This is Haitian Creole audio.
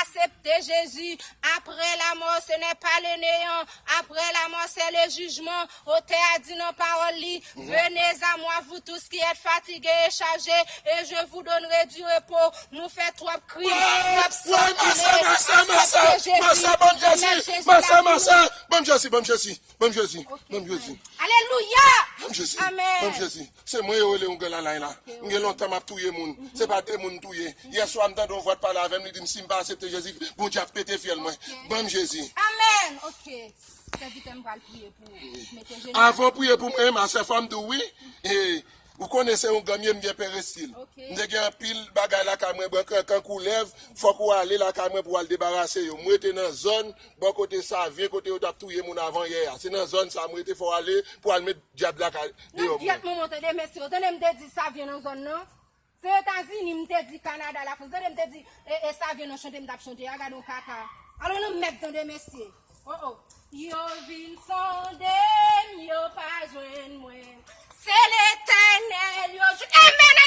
Asepte Jezi, apre lamò se nè pa le neyan, apre lamò se le jijman, otè a di nan pawòl li, Venez a mwa vou tous ki èt fatige e chaje, e je vou donnre du repo, nou fè twòp krim, twòp san koule, asepte Jezi, remèt Jezi lavi nou. Alelouya! Amen! Se mwen yo rele yon gè lalay la. M gen lontan m ap touye moun. Se pa de moun m touye. Yè swa m tande yon vwa t pale avè m li di m si m pa asepte Jezi Bondye ap pete fyèl mwen. Ban m Jezi. Amen ok sèvitè m pral priye pou ou mete jenou. Avan w priye pou mwen ma sè fò m di w wi e ou konnen se yon gè m ye m gen perestil. M te gen anpil bagay lakay mwen bran kankan koulèv fòk ou ale lakay mwen pou w al debarase yo. M rete nan zòn bò kote savyen kote yo t ap touye moun avan yè a. Se nan zòn sa m rete fò w ale pou w al met. Dyab la ka Nan deyò gyèt mwen. manman w tande men si yo tande m te di sa vyen nan zòn nan se etazini m te di kanada la frans tande m te di e e sa vyen nan chante m tap chante a gadon kaka alon nan mèd tande mesye o o. Yo vin sonde m yo pa jwenn mwen se letènèl yo jwenn. Amen ale.